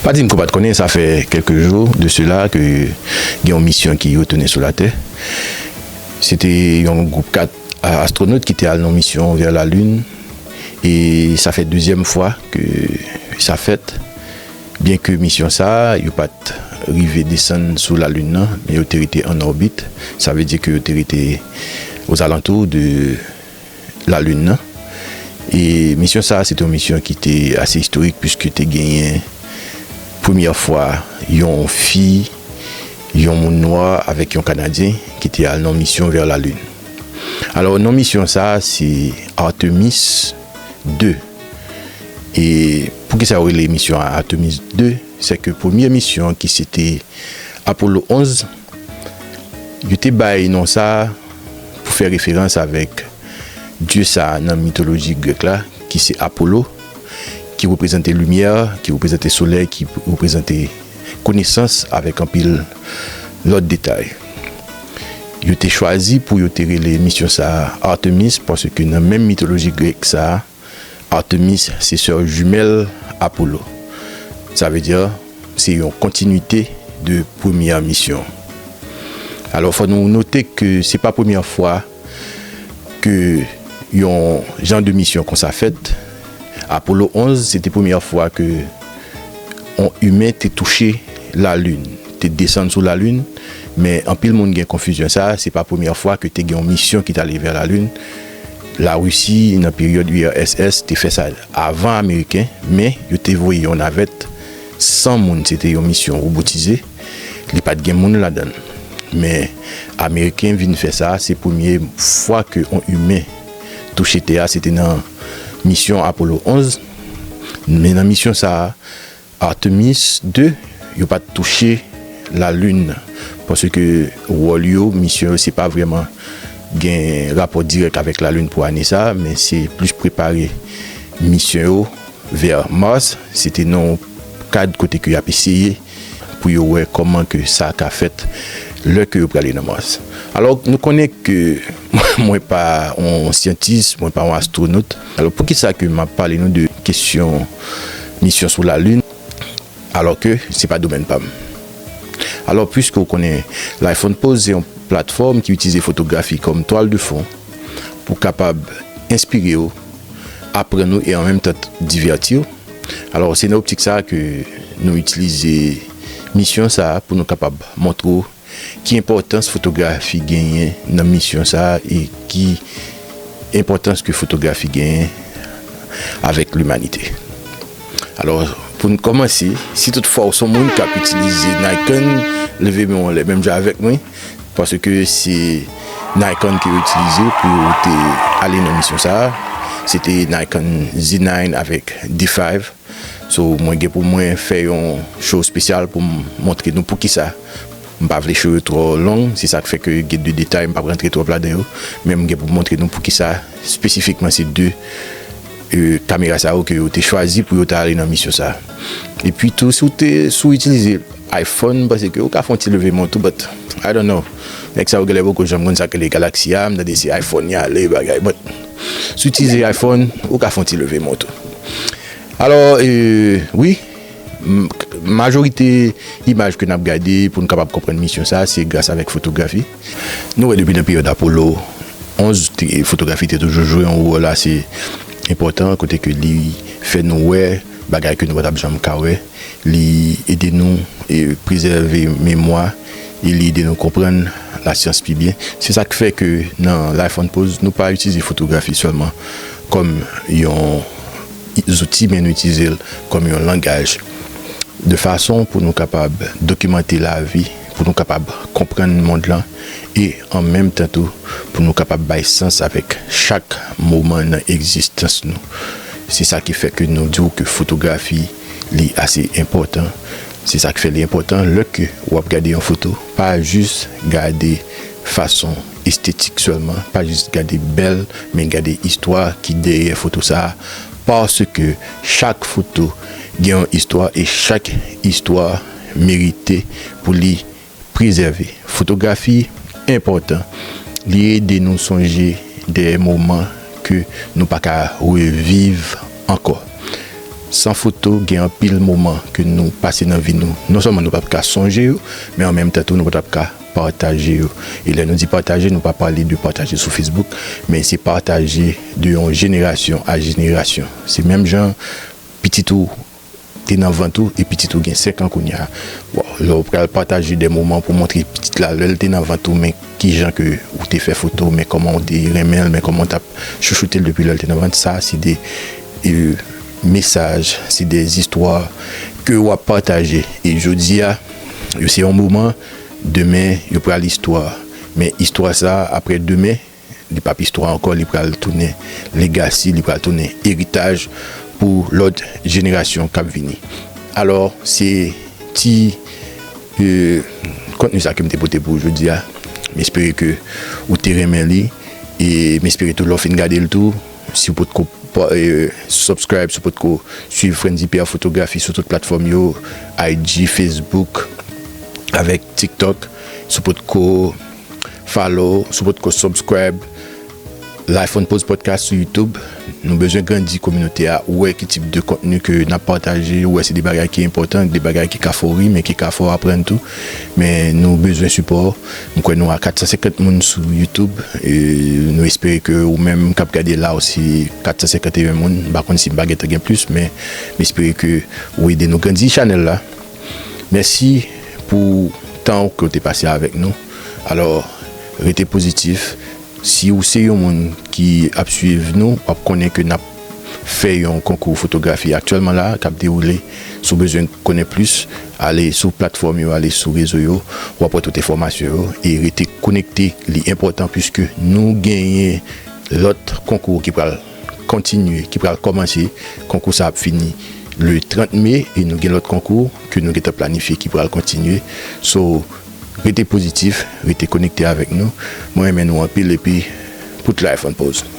Pa di m ke w pa t konnen, sa fè kèlke jou de sela ke gen yon misyon ki retounen sou latè. Se te yon gwoup 4 astwonot ki te al nan misyon vè lalin e sa fè dezyèm fwa ke sa fèt. Byen ke misyon sa a, yo pa t rive desann sou lalin nan, men yo te rete an òbit, sa vle di ke yo te rete ozalantou de. lalin nan. E misyon sa a se te yon misyon ki te ase istorik piske te genyen premyè fwa yon fi, yon moun nwa avèk yon kanadyen ki te al nan misyon vè lalin. Alò non misyon sa a se Artemis 2. E pou kisa yo rele misyon an Artemis 2? Sèke premye misyon ki se te Apollo 11. Yo te bay non sa a pou fè referans avèk dye sa a nan mitoloji grèk la, ki se Apolo, ki reprezante limyè, ki reprezante solèy, ki reprezante konesans avèk anpil lòt detay. Yo te chwazi pou yo te rele misyon sa a Artemis paske nan menm mitoloji grèk sa a, Artemis se sè jumèl Apollo. Sa vle di se yon kontinuite de premyè misyon. Alò fò nou note ke se pa premyè fwa ke yon jan de misyon konsa fèt. Apollo 11 se te premyè fwa ke yon imen te touche la lin, te desann sou la lin. Men anpil moun gen konfizyon sa, se pa premyè fwa ke te gen yon misyon ki t ale vè la lin. La Risi nan peryòd URSS te fè sa avan Ameriken, men yo te voye yon navèt 100 moun, se te yon misyon robotize, li pa t gen moun ladan l. Men Ameriken vin fè sa, se premye fwa ke yon imen touche tè a, se te nan misyon Apollo 11, men nan misyon sa a, Artemis ii yo pat touche la lune paske wòl yo misyon yo se pa vrèman gen rapò dirèk avèk la lune pou ane sa men se plis prepare misyon yo vè mars se te nan yon kad kote ke yap eseye pou yo wè kòman ke sa ka fèt lè ke yo prale nan mars alò nou konnen ke mwen pa yon syantis mwen pa yon astronot. Alò poukisa ke map pale nou de kesyon misyon sou la lune alò ke se pa domèn pam? Alò pwiske ou konnen Lifon Pose se yon platfòm ki itilize fotografi kòm twal de fon pou kapab enspire ou, aprann ou e an menm tan divèti ou, alò se nan optik sa ke nou itilize misyon sa pou nou kapab montre ou. Ki enpòtans fotografi genyen nan misyon sa e ki enpòtans ke fotografi genyen avèk limanite? Alò, pou n kòmanse, si tout fwa ou son moun k ap itilize Nikon, leve men w anlè menm jan avèk mwen, paske se Nikon ke yo itilize pou yo te ale nan misyon sa a. Se te Nikon Z9 avèk D5. So mwen gen pou mwen fè yon show spesyal pou m montre nou poukisa m pa vle show yo twò long se sak fè ke gen de detay m pap rantre twòp ladan yo men m gen pou m montre nou poukisa spesifikman se de kamera sa yo ke yo te chwazi pou yo ta ale nan misyon sa epi tou si w te si w itilize iPhone m panse ke ou ka fè yon ti leve men w tou but I don't know nèg sa yo genlè poko janm konn sak rele galaxy a m tande se iPhone y ale bagay but. Si w itilize iPhone, ou ka fè yon ti leve mwen tou. Alò, wi, majorite imaj ke n ap gade pou nou kapab konprann misyon sa, se gras avèk fotografi. Nou wè depi nan peryòd Apollo 11, fotografi te toujou jwe yon wòl ase enpòtan, kote ke li fè nou wè bagay ke nou pa t ap janm ka wè. li ede nou prezève memwa e li ede nou konprann lasyans pi byen. Se sa k fè ke nan Life on Pose, nou pa itilize fotografi sèlman kòm yon zouti, men nou itilize l kòm yon langaj, de fason pou nou kapab dokimante lavi, pou nou kapab konprann mond lan e an menm tan tou pou nou kapab bay sans avèk chak moman nan egzistans nou. Se sa ki fè ke nou di w ke fotografi. li ase enpòtan se sak fè li enpòtan lè ke wap gade yon foto pa jis gade fason estetik sèlman pa jis gade bèl men gade istwa ki dèyè foto sa paske chak foto gen yon istwa e chak istwa merite pou li Prezève fotografi enpòtan, li ede nou sonje de moman ke nou pa ka reviv ankò. San foto, gen anpil moman ke nou pase nan vi nou, non sèlman nou pap ka sonje yo, men an menm tan tou nou pa tap ka pataje yo. E lè nou di pataje, nou pa pale de pataje sou Facebook, men se pataje de yon jenerasyon a jenerasyon. Se menm jan pitit ou. te nan vant ou e pitit ou gen 5 an kounye a, waw, lè ou pral pataje de moman pou montre pitit la lè l te nan vant ou men kijan ke ou te fè foto, men kòman ou te renmen l, men kòman ou tap chouchoute l depi lè l te nan vant, sa se de mesaj, se de istwa ke wap pataje e jodi a yo se yon moman, demen yo pral istwa, men istwa sa aprè demen. li pap istwa ankò li pral tounen legasi li pral tounen eritaj pou lòt jenerasyon kap vini alò se ti kontni sa kem te pote pou jodi a m espere ke ou te renmen li e m espere tou lè w fin gade l tou si w pot ko subscribe si w pot ko swiv frendz pr fotografi sou tout platfòm yo IG facebook avèk tiktok si w pot ko. Follow si w potko subscribe Life on Pose Podcast sou YouTube. Nou bezwen grandi kominote a, wè ki tip de kontni ke n ap pataje, wè se de bagay ki enpòtan, de bagay ki ka fè w ri men ki ka fè w aprann tou. Men nou bezwen sipò w. M kwè nou a 450 moun sou YouTube e nou espere ke ou menm k ap gade la ou se 451 moun. M pa konn si m pa gentan gen plis men m espere ke ou ede nou grandi chanèl la. Mèsi pou tan ou ke w te pase avèk nou. Alò, rete pozitif. Si ou se yon moun ki ap swiv nou, w ap konnen ke n ap fè yon konkou fotografi aktyèlman la k ap dewoule. Si w bezwen konnen plis, ale sou platfòm yo, ale sou rezo yo, w ap wè tout enfòmasyon yo. E rete konekte, li enpòtan, puiske nou genyen lòt konkou ki pral. kontinye ki pral kòmanse konkou sa ap fini le 30 me e nou gen lòt konkou ke nou gentan planifye ki pral kontinye so rete pozitif rete konekte avèk nou mwen renmen nou anpil epi put life on pause.